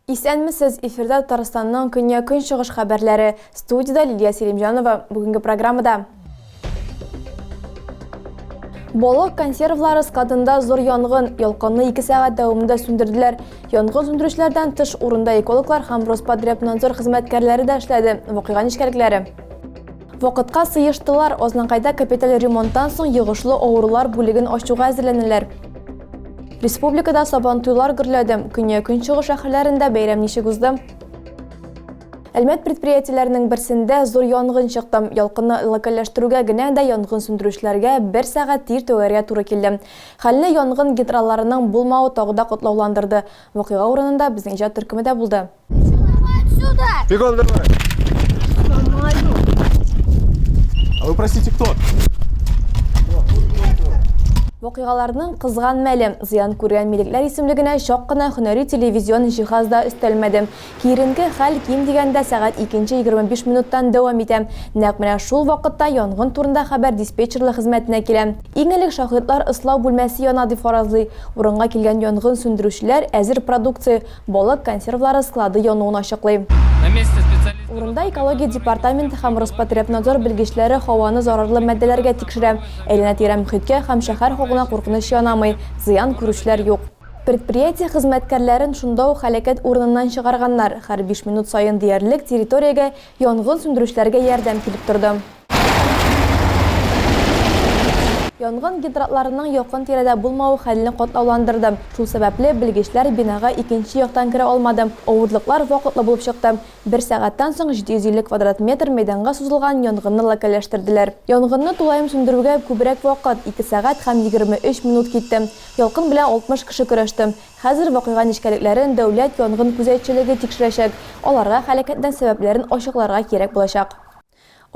Исәнмесез, эфирда Татарстанның көнья-көнчыгыш хәбәрләре. Студиядә Лилия Селимҗанова. Бүгенге программада Балык консервлары складында зур янгын, ялкынны 2 сәгать дәвамында сүндерделәр. Янгын сүндерүчеләрдән тыш урында экологлар һәм Роспотребнадзор хезмәткәрләре дә эшләде. Вакыйга нечкәлекләре. Вакытка сыештылар, Ознанкайда капиталь ремонттан соң йогышлы авырулар бүлеген ачуга әзерләнәләр. Республикада сабантуйлар гөрләде. Көньяк-көнчыгыш шәһәрләрендә бәйрәм ничек узды? Әлмәт предприятиеләренең берсендә зур янгын чыкты. Ялкынны локальләштерүгә генә дә янгын сүндерүчеләргә бер сәгать тир түгәргә туры килде. Хәлне янгын генералларының булмавы тагы да катлауландырды. Вакыйга урынында безнең иҗат төркеме дә булды. Бегом давай! А вы простите, кто? Вакыйгаларның кызган мәле, зыян күргән милекләр исемлегенә чак кына һөнәри телевизион җиһаз да өстәлмәде. Киеренке хәл ким дигәндә сәгать икенче егерме биш минуттан дәвам итә. Нәкъ менә шул вакытта янгын турында хәбәр диспетчерлык хезмәтенә килә. Иң элек шаһитлар ыслау бүлмәсе яна дип фаразлый. Урынга килгән янгын сүндерүчеләр әзер продукция, балык консервлары склады януын ачыклый. Урында экология департаменты һәм Роспотребнадзор белгечләре һаваны зарарлы матдәләргә тикшерә. Әйләнә-тирә мөхиткә һәм шәһәр халкына куркыныч янамый, зыян күрүчеләр юк. Предприятие хезмәткәрләрен шунда ук һәлакәт урыныннан чыгарганнар, һәр биш минут саен диярлек территориягә янгын сүндерүчеләргә ярдәм килеп торды. Янгын гидрантларының якын-тирәдә булмавы хәлне катлауландырды, шул сәбәпле, белгечләр бинага икенче яктан керә алмады, авырлыклар вакытлы булып чыкты. Бер сәгатьтән соң 750 квадрат метр мәйданга сузылган янгынны локальләштерделәр. Янгынны тулаем сүндерүгә күбрәк вакыт, ике сәгать һәм 23 минут китте. Ялкын белән 60 кеше көрәште. Хәзер вакыйга нечкәлекләрен дәүләт янгын күзәтчелеге тикшерәчәк, аларга һәлакәтнең сәбәпләрен ачыкларга кирәк булачак.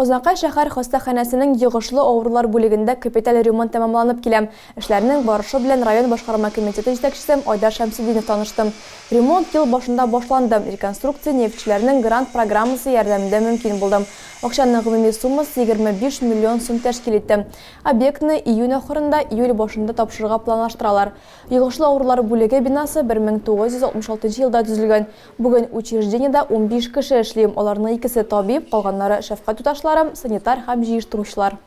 Азнакай шәһәр хастаханәсенең йогышлы авырулар бүлегендә капиталь ремонт тәмамланып килә. Эшләрнең барышы белән район башкарма комитеты җитәкчесе Айдар Шәмсетдинов танышты. Ремонт ел башында башланды, реконструкция нефтьчеләрнең грант программасы ярдәмендә мөмкин булды. Акчаның гомуми суммасы 25 миллион сум тәшкил итте. Объектны июнь ахырында, июль башында тапшырырга планлаштыралар. Йогышлы авырулар бүлеге бинасы 1966 нчы елда төзелгән. Бүген учреждениедә унбиш кеше эшли, аларның икесе, табиб, калганнары, шәфкать туташлары, санитар һәм җыештыручылар.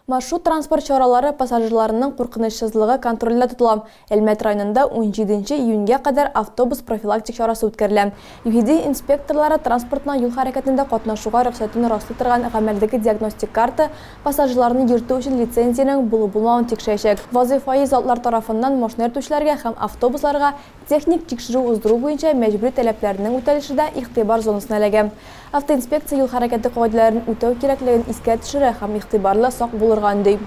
Маршрут-транспорт чаралары пассажирларының куркынычсызлыгы контролендә тотыла, Әлмәт районында унҗиденче июньгә кадәр автобус профилактик чарасы үткәрелә. ЮХИДИ инспекторлары транспортның юл хәрәкәтендә катнашуга рөхсәтен раслый торган гамәлдәге диагностик карта, пассажирларны йөртү өчен лицензиянең булу-булмавын тикшерәчәк. Вазыйфаи затлар тарафыннан машина йөртүчеләргә һәм автобусларга техник тикшерү уздыру буенча мәҗбүри таләпләрнең үтәлеше дә игътибар зонасына эләгә. Автоинспекция юл хәрәкәте кагыйдәләрен үтәү кирәклеген искә төшерә һәм игътибарлы, сак булырга өнди.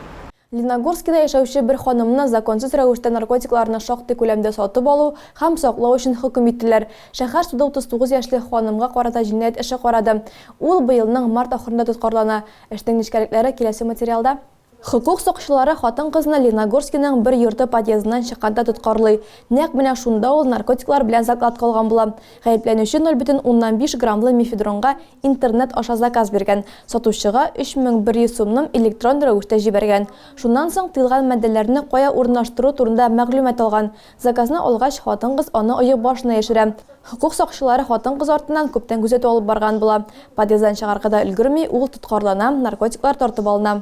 Леногорскида яшәүче бер ханымны законсыз рәвештә наркотикларны шактый күләмдә сатып алу һәм саклау өчен хөкем иттеләр. Шәһәр суды 39 яшьлек ханымга карата җинаять эше карады. Ул быелның март ахырында тоткарлана. Эшнең нечкәлекләре киләсе материалда. Хокук сакчылары хатын-кызны Леногорскиның бер йорты подъездыннан чыкканда тоткарлый. Нәкъ менә шунда ул наркотиклар белән заклад кылган була. Гаепләнүче 0,5 граммлы мефедронга интернет аша заказ биргән, сатучыга 3100 сумнын электрон рәвештә җибәргән. Шуннан соң тыелган матдәләрне кая урынлаштыру турында мәгълүмат алган. Заказны алгач, хатын-кыз аны оек башына яшерә. Хокук сакчылары хатын-кыз артыннан күптән күзәтү алып барган була. Подъезддан чыгарга да өлгерми, ул тоткарлана, наркотиклар тартып алына.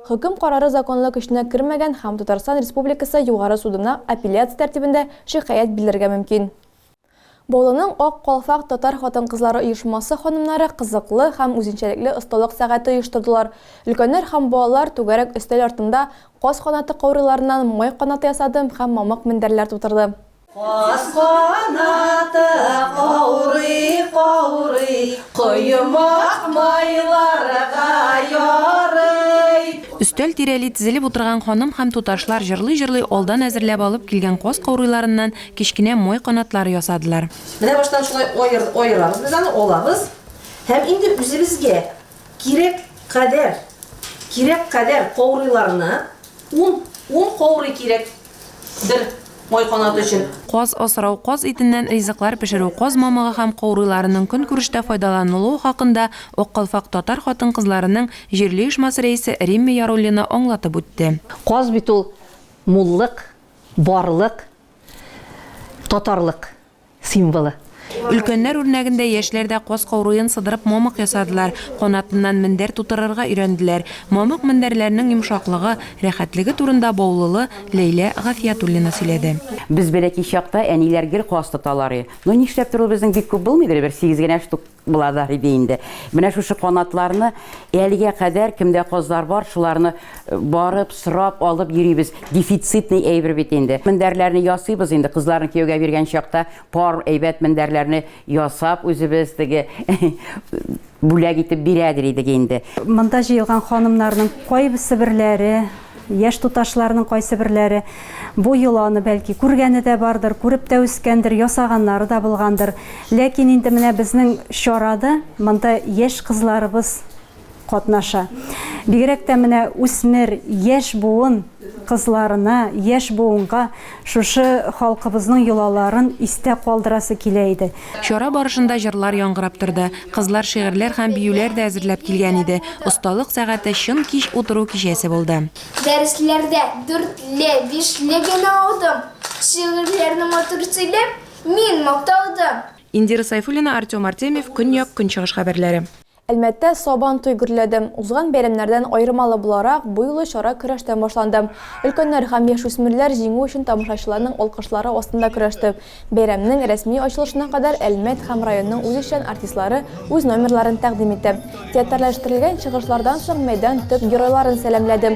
Хөкем карары законлы көченә кермәгән һәм Татарстан Республикасы Югары судына апелляция тәртибендә шикаять билләргә мөмкин. Баулының Ак калфак татар хатын-кызлары оешмасы ханымнары кызыклы һәм үзенчәлекле осталык сәгате оештырдылар. Өлкәннәр һәм балалар түгәрәк өстәл артында каз канаты каурыйларыннан май канаты ясады һәм мамык мендәрләр тутырды. Каз канаты каурый-каурый, коймак майларга ярый. Өстәл тирәли тезелеп утырган ханым һәм туташлар җырлый-җырлый алдан әзерләп алып килгән каз каурыйларыннан кечкенә май канатлары ясадылар. Менә баштан шулай аерабыз без аны, алабыз һәм инде үзебезгә кирәк кадәр, кирәк кадәр каурыйларны, ун, ун каурый кирәк, Бер май канаты өчен. Каз асрау, каз итеннән ризыклар пешерү, каз мамыгы һәм каурыйларының көнкүрештә файдаланылуы хакында Ак калфак татар хатын-кызларының җирле оешмасы рәисе Римма Яруллина аңлатып үтте. Каз бит ул, муллык, барлык, татарлык. символы. Өлкәннәр үрнәгендә яшьләр дә каз кауруен сыдырып мамык ясадылар, канатыннан мендәр тутырырга өйрәнделәр. Мамык мендәрләрнең йомшаклыгы, рәхәтлеге турында Баулылы Ләйлә Гафиятуллина сөйләде. Без бәләкәй чакта әниләр гел каз тоталар и. Ну нишләптер ул безнең бик күп булмыйдыр и, бер сигез генә штук. Булазар иде инде. Менә шушы канатларны әлегә кадәр кемдә казлар бар, шуларны э, барып, сорап, алып йөрибез. Дефицитный әйбер бит инде. Мендәрләрне ясыйбыз инде, кызларны кияүгә биргән чакта пар әйбәт мендәрләрне ясап үзебез теге бүләк итеп бирәдер идек инде. Монда җыелган ханымнарның кайбысы берләре Яшь туташларның кайсыберләре бу йоланы, бәлки, күргәне дә бардыр, күреп тә үскәндер, ясаганнары да булгандыр. Ләкин инде менә безнең чарада монда яшь кызларыбыз катнаша. Бигрәк тә менә үсмер, яшь буын кызларына, яшь буынга Шушы халкыбызның йолаларын истә калдырасы килә иде. Чара барышында җырлар яңгырап торды, кызлар шигырьләр һәм биюләр дә әзерләп килгән иде, осталык сәгате чын кич утыру кичәсе булды. Дәресләрдә дүртле, бишле генә алдым, шигырьләрне матур сөйләп, мин макталдым. Индира Сайфуллина, Артем Артемьев, Көньяк-Көнчыгыш хәбәрләре. Әлмәттә Сабан туй гөрләде. Узган бәйрәмнәрдән аермалы буларак, бу юлы чара көрәштән башланды. Өлкәннәр һәм яшүсмерләр җиңү өчен тамашачыларның алкышлары астында көрәште. Бәйрәмнең рәсми ачылышына кадәр Әлмәт һәм районның үзешчән артистлары үз номерларын тәкъдим итте. Театрләштерелгән чыгышлардан соң мәйдан төп геройларын сәламләде.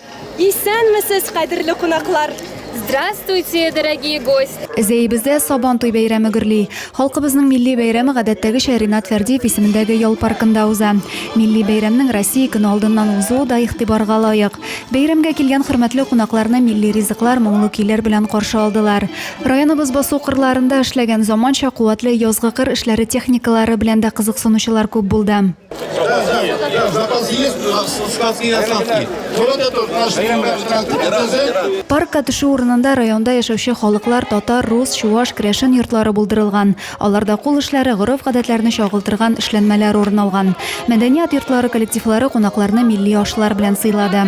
Исәнмесез, кадерле кунаклар! Здравствуйте, дорогие гости! Зәебездә Сабан туй бәйрәме гөрли. Халкыбызның милли бәйрәме гадәттәгечә Ринат Фәрдиев исемендәге ял паркында уза. Милли бәйрәмнең Россия көне алдыннан узуы да игътибарга лаек. Бәйрәмгә килгән хөрмәтле кунакларны милли ризыклар, моңлы көйләр белән каршы алдылар. Районыбыз басу кырларында эшләгән заманча, куәтле язгы кыр эшләре техникалары белән дә кызыксынучылар күп булды. Да, да, да, запас есть, складские осадки. Вот это наш ДЗ. Паркка төшү урынында районда яшәүче халыклар татар, рус, чуваш, крәшен йортлары булдырылган. Аларда кул эшләре, гореф-гадәтләрне чагылтырган эшләнмәләр урын алган. Мәдәният йортлары коллективлары кунакларны милли ашлар белән сыйлады.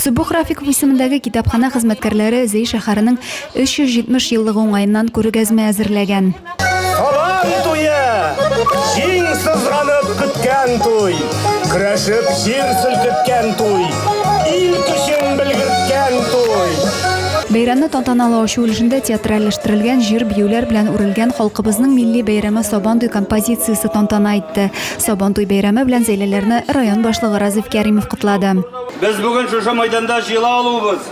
Сөббөх Рафиков исемендәге китапханә хезмәткәрләре Зей шәһәренең 370 еллыгы уңаеннан күргәзмә әзерләгән. Сабан туе! Җиң сызганып көткән туй, Көрәшеп җир селкеткән туй, Ил көчен белгерткән туй. Бәйрәмне тантаналы ачу өлешендә театральләштерелгән җыр-биюләр белән үрелгән халкыбызның милли бәйрәме Сабан туй композициясе тантана итте. Сабан туй бәйрәме белән Зәйләләрне район башлыгы Разиф Кәримов котлады. Без бүген шушы мәйданда җыела алуыбыз,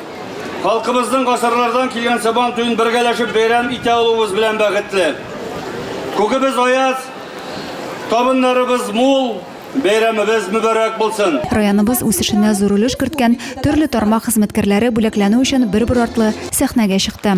Халкыбызның гасырлардан килгән сабан туен бергәләшеп бәйрәм итә алуыбыз белән бәхетле. Күгебез аяз, табыннарыбыз мул, бәйрәмебез мөбарәк булсын! Районыбыз үсешенә зур өлеш керткән төрле тармак хезмәткәрләре бүләкләнү өчен бер-бер артлы сәхнәгә чыкты.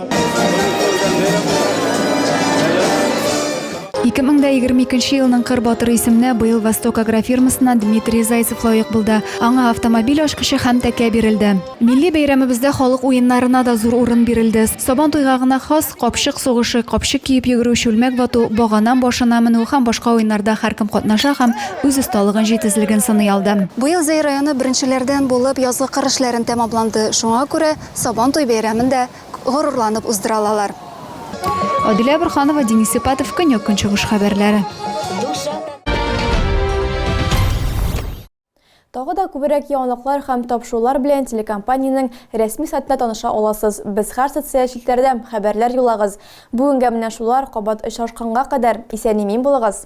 Ике мең дә егерме икенче елның Кыр батыры исеменә быел Восток агрофирмасыннан Дмитрий Зайцев лаек булды. Аңа автомобиль ачкычы һәм тәкә бирелде. Милли бәйрәмебездә халык уеннарына да зур урын бирелде. Сабан туйга гына хас капчык сугышы, капчык киеп йөгерү, чүлмәк вату, багана башына менү һәм башка уеннарда һәркем катнаша һәм үз осталыгын, җитезлеген сыный алды. Быел Зәй районы беренчеләрдән булып язгы кыр эшләрен тәмамланды. Шуңа күрә, Сабантуй бәйрәмен дә горурланып уздыра алалар. Адилә Борханова, Денис Сыпатов, Көньяк-Көнчыгыш хәбәрләре. Тагы да күберәк яңалыклар һәм тапшырулар белән телекомпаниянең рәсми сайтында таныша аласыз. Без һәр социаль челтәрдә, хәбәрләр юллагыз. Бүгенгә менә шулар, кабат очрашканга кадәр, исән-имин булыгыз!